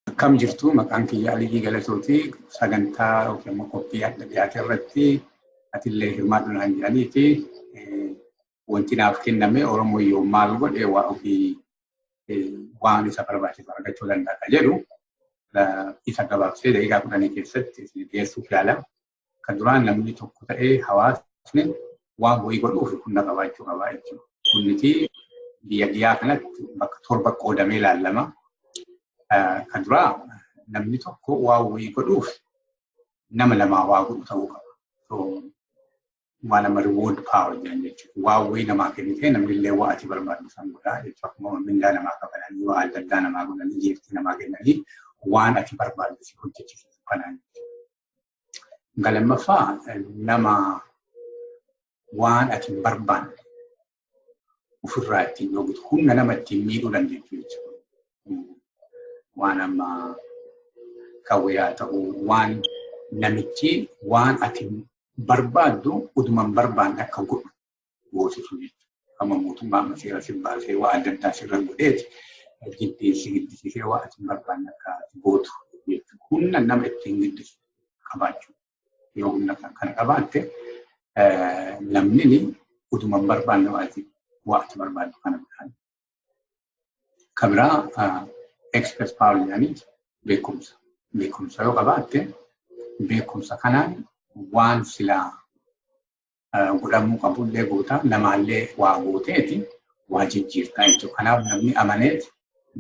Akkam jirtu maqaan kiyya Aliyyii Galatooti sagantaa yookiin immoo qophii adda dhiyaate irratti atillee hirmaadhu naan jedhanii fi wanti naaf kenname Oromoo yoo maal godhe waa ofii waan isa barbaachisu argachuu danda'a jedhu isa gabaabsee daqiiqaa kudhanii keessatti dhiyeessuuf yaala. Kan duraan namni tokko ta'ee hawaasni waan wayii godhuuf humna qabaachuu qabaa jechuudha. Humniti biyya dhiyaa kanatti bakka torba qoodamee ilaallama. Kan duraa namni tokko waan wayii godhuuf nama lamaa waa godhu ta'uu qaba. Waan nama reward power jedhan jechuudha. Waan wayii namaa kennitee namni illee waa ati barbaaddu san godhaa jechuudha. Akkuma mindaa namaa kafalanii waa adda addaa namaa godhanii jeeftii namaa kennanii waan ati barbaaddu si hojjechiisu kanaan jechuudha. Kan lammaffaa nama waan ati hin barbaanne ofirraa ittiin dhoogutu humna nama ittiin miidhuu dandeettu jechuudha. Waan amma qawwee haa ta'u waan namichi waan ati barbaaddu uduman barbaanne akka godhu gooti sun amma mootummaa amma seera sin baasee waa adda addaa sirra godheeti jiddii si giddisiisee waa asin barbaanne akka ati gootu jechuudha. Humna nama ittiin giddisu qabaachuu yoo humna kan kana qabaatte namni utuma hin barbaanne waa ati waa ati barbaaddu kana godhaan. Kan biraa expert power jedhanii beekumsa. Beekumsa yoo qabaatte beekumsa kanaan waan silaa godhamuu qabullee goota namaallee waa gooteeti waa jijjiirtaa jechuudha. Kanaaf namni amaneeti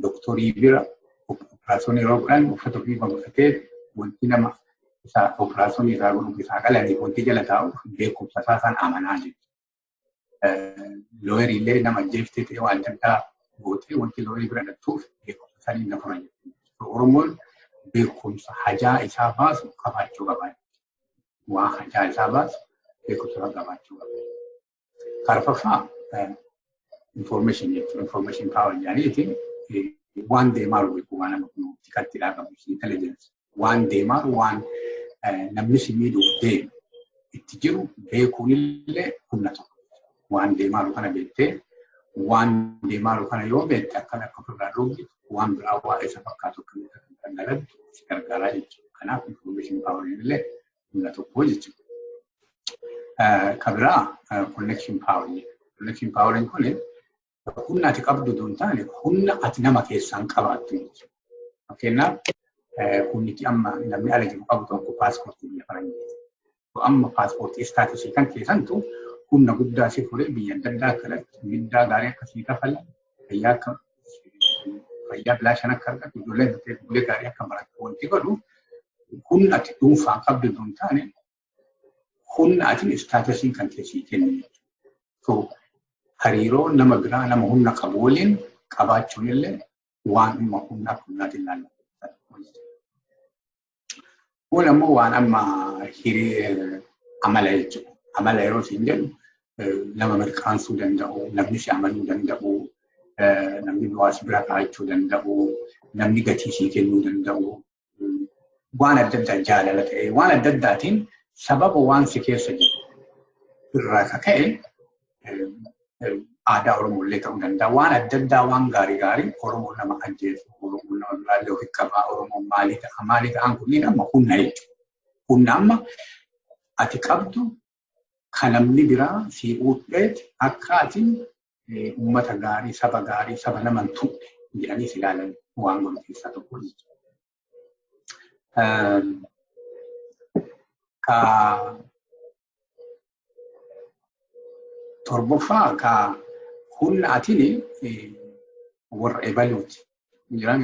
doktorii bira operaasyoonii yeroo godhan uffata ofii godhatee wanti nama isaa operaasyoonii isaa godhuuf isaa qalanii wanti jala taa'u beekumsa isaa san amanaa jechuudha. Looyeriillee nama ajjeeftee ta'e waan adda addaa gootee wanti looyerii bira dhattuuf beekumsa saniin na fura jechuudha. Oromoon beekumsa hajaa isaa baasu qabaachuu qaba. waa harkaa isaa baasu beekumsa qabaachuu qaba. Karfaffaa information jechuun information power jedhaniiti waan deemaa jiru beeku waan nama kun tikatti dhaa qabu intelligence waan deemaa jiru waan namni si miidhuuf deemu itti jiru beekuun illee humna tokko. waan deemaa jiru kana beektee waan deemaa jiru kana yoo beekte akkan akka ofirraa dhoobu waan biraa waa'ee isa fakkaatu akka kan dalagdu si gargaaraa jechuudha. Kanaaf information power illee humna tokko jechuudha. Ka biraa connection power jedhama. Connection power kun humna ati qabdu osoo hin taane humna ati nama keessaan qabaattu miti. Fakkeenyaaf humnichi amma namni ala jiru qabu tokko paaspoortii biyya faranjii. Amma paaspoortii istaatisii kan keessantu humna guddaa si fuudhee biyya adda addaa akka dhaltu, middaa gaarii akka sii kafalan, fayyaa akka fayyaa bilaashan akka argatu, ijoolleen bulee gaarii akka baratu wanti godhu humna ati dhuunfaan qabdu osoo hin taane humna atin istaatasiin kan kee sii kennu jechuudha. Hariiroo nama biraa nama humna qabu waliin qabaachuun illee waan amma humna akka humnaatiin ilaallamu. Kun ammoo waan amma hiree amala jechuudha. Amala yeroo siin jedhu nama mirqaansuu danda'u, namni si amanuu danda'u, namni waa si bira kaa'achuu danda'u, namni gatii sii kennuu danda'u, waan adda addaa jaalala ta'ee waan adda addaatiin sababa waan si keessa jiru irraa ka ka'e aadaa Oromoo illee ta'uu danda'a. Waan adda addaa waan gaarii gaarii Oromoo nama ajjeesu, Oromoo nama biraallee ofi qabaa, Oromoo maalii ta'a, maalii ta'an kunniin amma humna jechuudha. Humna amma ati qabdu ka namni biraa sii uudheet akka ati ummata gaarii, saba gaarii, saba nama hin tuqne jedhanii si ilaalan waan godhu keessaa tokko jechuudha. Ka torboffaa ka humna atini warra ebaluuti Jiraan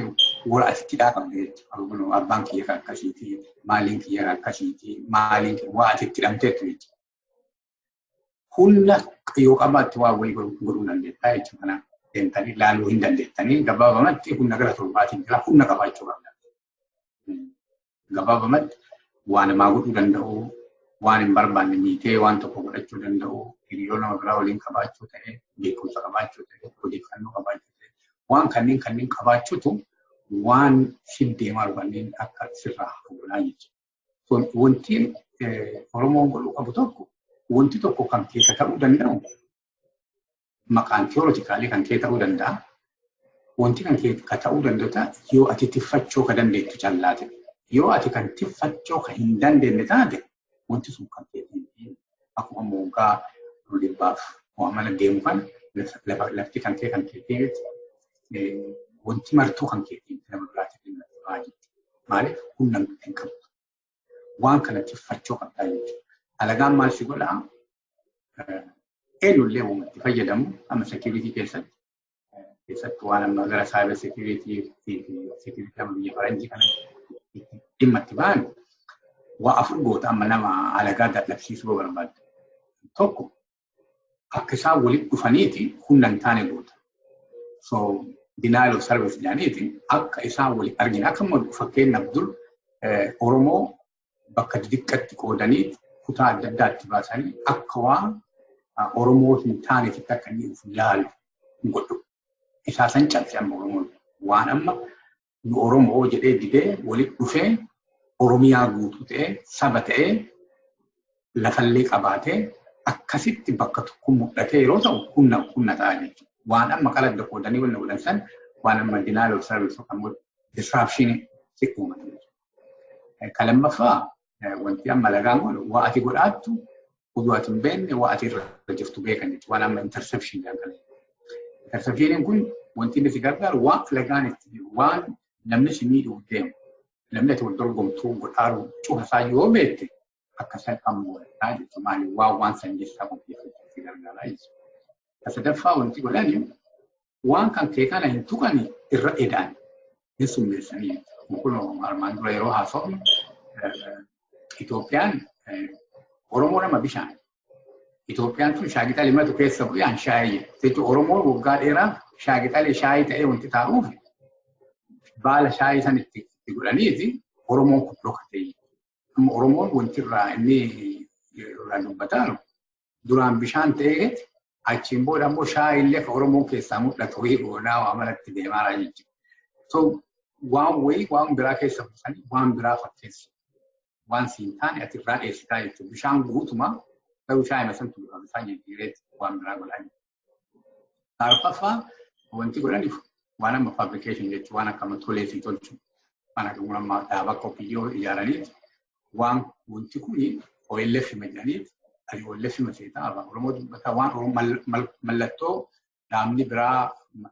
wal asitti dhaabamne jechuudha. Abbaan kiyya kan akkasiiti, maaliin kiyya kan akkasiiti, maaliin kiyya waa ati itti dhamteetu jechuudha. Humna yoo qabaatte waa wayii godhuu dandeettaa jechuudha. Kanaaf deemtanii ilaaluu hin dandeettanii gabaabamatti humna gara torbaatiin jira humna qabaachuu qabna. Gabaabamatti waan namaa godhuu danda'u, waan hin barbaanne miitee waan tokko godhachuu danda'u, hiriyoota nama biraa waliin qabaachuu ta'e, beekumsa qabaachuu ta'e, odeeffannoo qabaachuu ta'e, waan kanneen kanneen qabaachuutu waan fiddee maal kanneen akka sirraa hafuudhaa jechuudha. Kun wanti Oromoon godhuu qabu tokko wanti tokko kan keessa ta'uu danda'u maqaan theoretically kan kee ta'uu danda'a. Wanti kan kee ka ta'uu danda'u yoo ati tiffachoo ka dandeettu callaate. Yoo ati kan tiffachoo ka hin dandeenye taate wanti sun kan kee hin ta'in. Akkuma moggaa ol dhibbaaf waa mana deemu kan lafti kan kee kan kee ta'etti wanti martuu kan kee ta'etti nama biraatiif hin lafamaa jetti. Maaliif humna hin qabdu. waan kana tiffachuu qabdaa jechuudha. Alagaan maal si godhaa? Eenyullee uumatti fayyadamu amma seekiriitii keessatti keessattuu waan amma gara saayibar seekiriitii fi seekiriitii amma biyya faranjii kana dhimma itti ba'an waa afur goota amma nama alagaa dadhabsiisuu barbaadda. Tokko akka isaan walitti dhufaniiti humna hin taane goota. So denial of service jedhaniiti akka isaan waliin argina. Akka immoo fakkeenyaaf dur Oromoo bakka xixiqqatti qoodanii kutaa adda addaatti baasanii akka waan Oromoo hin taaneetitti akka inni of ilaalu hin godhu. Isaa san cabse amma Oromoon waan amma nu Oromoo jedhee didee walitti dhufee Oromiyaa guutuu ta'ee saba ta'ee lafallee qabaatee akkasitti bakka tokko mul'atee yeroo ta'u humna humna ta'a jechuudha. Waan amma qaladda qoodanii wanna godhan san waan amma denial of service yookaan immoo disruption si uumata jechuudha. Kan lammaffaa Wanti amma lagaan kun waa ati godhaattu oduu ati hin beekne waa ati irra jirtu beekan jechuudha. Waan amma interception jedhan. Interceptioniin kun wanti inni si gargaaru waan lagaan itti waan namni si miidhuuf deemu namni ati wal dorgomtuu godhaaru cufa isaa yoo beekte akka salphaan mo'ataa jechuudha. Maali waan waan san keessaa qopheeffachuu si gargaara jechuudha. Sadaffaa wanti godhani waan kan kee kana hin tuqani irra edaan hin summeessanii kun armaan dura yeroo haasofnu Itoophiyaan Oromoo nama bishaan Itoophiyaan tun shaagixali matu keessa bu'ee an shaayii jechuun Oromoo waggaa dheeraa shaagixali shaayii ta'ee wanti taa'uuf baala shaayii san itti godhaniiti Oromoon kun dhokatee amma Oromoon wanti irraa inni irraa dubbataa jiru Duraan bishaan ta'ee achiin booda immoo shaayii illee kan Oromoon keessaa mul'atu wayii goonaa waa manatti deemaa jechuudha. So waan wayii waan biraa keessa buusanii waan biraa fakkeessu. Waan siin taane ati irraa dheessitaa jechuudha. Bishaan guutumaa garuu shaayii masantu bifa isaa jijjiiree waan biraa godhaa jechuudha. Arfaffaa wanti godhaniif waan amma fabrikeeshin jechuun waan akkama tolee fi tolchu waan akkuma amma dhaaba qophiyoo ijaaraniif waan wanti kun OLF jedhaniif ani OLF maseeta afaan Oromoo dubbata waan Oromoo mallattoo dhaabni biraa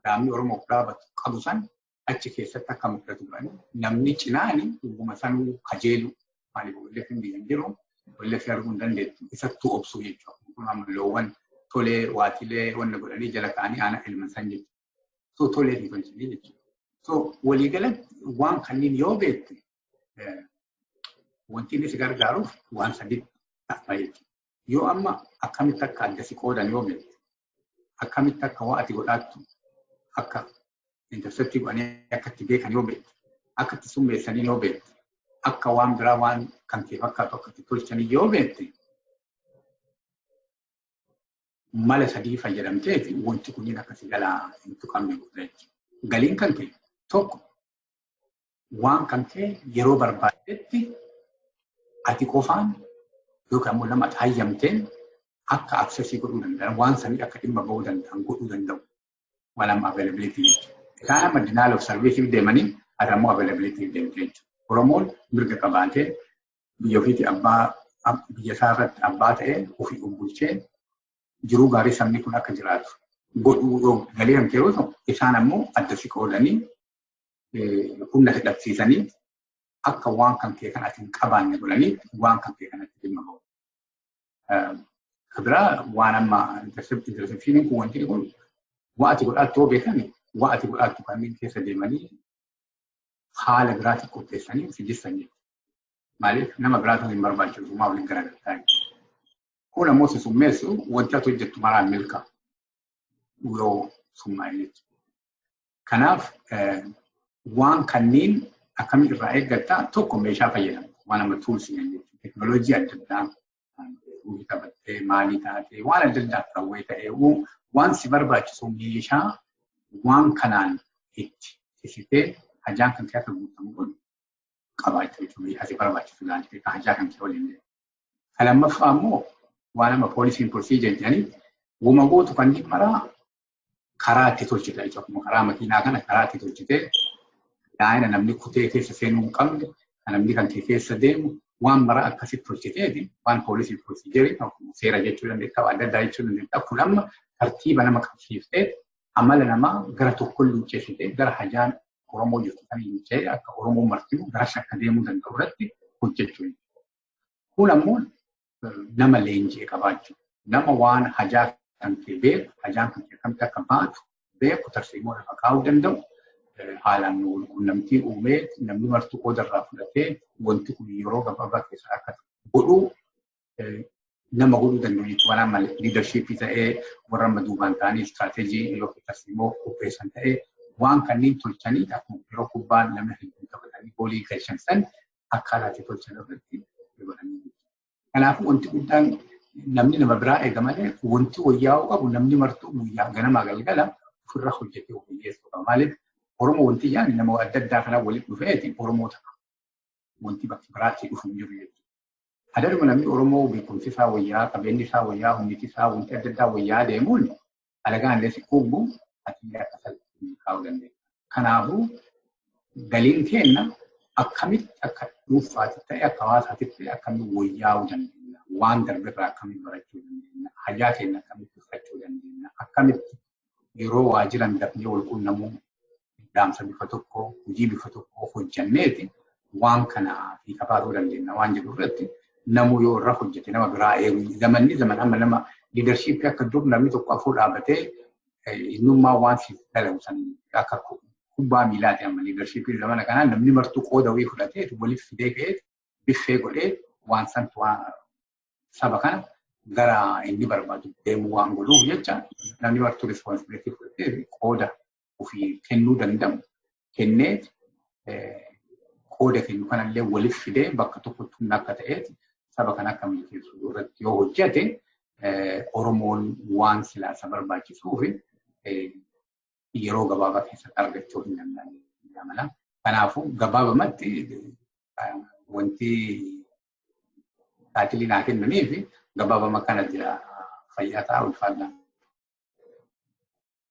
dhaabni Oromoo biraa qabu san achi keessatti akka mul'atu godhan namni cinaan dhuguma sanuu kajeelu maaliif OLF hin biyyan jiru OLF arguu hin dandeettu isattuu obsuu jechuudha. Kun amma loowwan tolee waatilee wanna godhanii jala ta'anii aana ilman san jechuudha. So tolee hin tolchine jechuudha. So waliigalatti waan kanneen yoo beekte wanti inni si gargaaruuf waan sadiitti ta'a jechuudha. Yoo amma akkamitti akka adda si qoodan yoo beekte, akkamitti akka waa ati godhaattu akka interceptii godhanii akka itti beekan yoo beekte, akka itti summeessanii yoo beekte, akka waan biraa waan kan kee fakkaatu akka itti tolchanii yoo beekte, mala sadii fayyadamteeti wanti kunniin akka si jalaa hin tuqamne godha jechuudha. Galiin kan kee tokko waan kan kee yeroo barbaaddetti ati qofaan yookaan immoo nama ati hayyamteen akka aksesii godhuu danda'an waan sanii akka dhimma ba'uu danda'an godhuu danda'u. Waan amma availability jechuudha. Isaan amma denial of service deemanii ati ammoo availability deemtee jechuudha. Oromoon mirga qabaatee biyya ofiitti abbaa biyya isaa irratti abbaa ta'ee ofii of bulchee jiruu gaarii sabni kun akka jiraatu godhuu galee kan ta'e yoo ta'u isaan ammoo adda si qoodanii humna hidhamsiisanii akka waan kan kee kan ati hin qabaanne godhanii waan kan kee kanatti dhimma ba'u. Kabiraa waan amma interceptioniin kun wanti kun waan ati godhaattuu beekani waan ati godhaattu kanneen keessa deemanii haala biraatiin qopheessanii si jissan jechuudha. Maaliif nama biraatu hin barbaachisu maa waliin garagartaa jechuudha. Kun ammoo si summeessu wanti ati hojjettu maraan milkaa yoo summaa'e jechuudha. Kanaaf waan kanneen akkamii irraa eeggatta tokko meeshaa fayyadamu waan amma tuulsi jechuudha. Teknooloojii adda addaa uumii qabattee maalii taatee waan adda addaa rawwee ta'ee waan si barbaachisu meeshaa waan kanaan itti cicitee hajaan kan kee akka guutamu godhu qabaachuu jechuudha. Meeshaa si barbaachisu ilaaltee kan hajaa kan kee waliin deemu. Kan lammaffaa immoo waan amma poolisiin poolisii jajjanii wama gootu kan dhimmaraa karaa itti tolchite jechuudha. Akkuma karaa makiinaa kana karaa itti tolchite daa'ina namni kutee keessa seenuu hin qabne kan namni kan kee keessa deemu waan mara akkasitti tolchiteeti waan poolisiif polisii jedhe akkuma seera jechuu dandeetta waan adda addaa jechuu dandeetta kun amma tartiiba nama qabsiiftee amala namaa gara tokkoon luuccessitee gara hajaan Oromoo jirtu kan hin ce'e akka Oromoo martimu garas akka deemuu danda'u irratti hojjechuu Kun ammoo nama leenji'e qabaachuu nama waan hajaa kan kee beeku hajaan kan kee akkamitti akka baatu beeku tarsiimoo lafa kaa'uu danda'u haalaan nu walqunnamtii uumee namni martuu qooda irraa fudhatee wanti kun yeroo gabaabaa keessa akka godhu nama godhuu danda'u jechuudha. Waan amma liidarshiippii ta'ee warra amma duubaan ta'anii istiraateejii yookiin tarsiimoo qopheessan ta'ee waan kanneen tolchanii akkuma yeroo kubbaan namni hedduu taphatanii goolii galchan san akkaan ati tolchan irratti dabalanii jiru. Kanaafuu wanti guddaan namni nama biraa eega malee wanti wayyaa'uu qabu namni martuu guyyaa ganamaa galgala ofirra hojjetee of hiyyeessuu qaba. Maaliif Oromoo wanti yaani nama adda addaa kanaa walitti dhufeeti Oromoo ta'a. Wanti bakka biraatti dhufu hin jiru jechuudha. Adaruma namni Oromoo beekumsi isaa wayyaa, qabeenyi isaa wayyaa, humniti isaa wanti adda addaa wayyaa deemuun alagaan illee si quubbu ati illee akka salphaatti kaa'uu dandeenya. Kanaafuu galiin keenya akkamitti akka dhuunfaatti ta'e akka hawaasaatti ta'e akkamitti wayyaa'uu dandeenya. Waan darbe irraa akkamitti barachuu dandeenya. Hajaa keenya akkamitti fudhachuu dandeenya. Akkamitti yeroo waajiran dafnee wal quunnamuu dhaamsa bifa tokko hojii bifa tokko hojjanneeti waan kana fiixa baasuu dandeenya waan jedhu irratti namuu yoo irra hojjete nama biraa eegu zamanni zaman amma nama liidarshiippii akka dur namni tokko afur dhaabatee innummaa waan siif dalagu san akka kubbaa miilaati amma liidarshiippii zamana kanaa namni martuu qooda wayii fudhatee waliif fidee ka'ee biffee godhee waan san waan saba kana gara inni barbaadu deemuu waan godhuuf jecha namni martuu rispoonsibilitii fudhatee qooda ofii kennuu danda'u kenneet qooda kennu kanallee waliif fidee bakka tokkotti humna akka ta'eet saba kan akka milkeessu irratti yoo hojjete Oromoon waan silaa isa barbaachisuuf yeroo gabaabaa keessatti argachuu hin danda'u mala. Kanaafuu gabaabamatti wanti taajilii naa kennanii fi gabaabama kana jira fayyaa ta'a ulfaadhaan.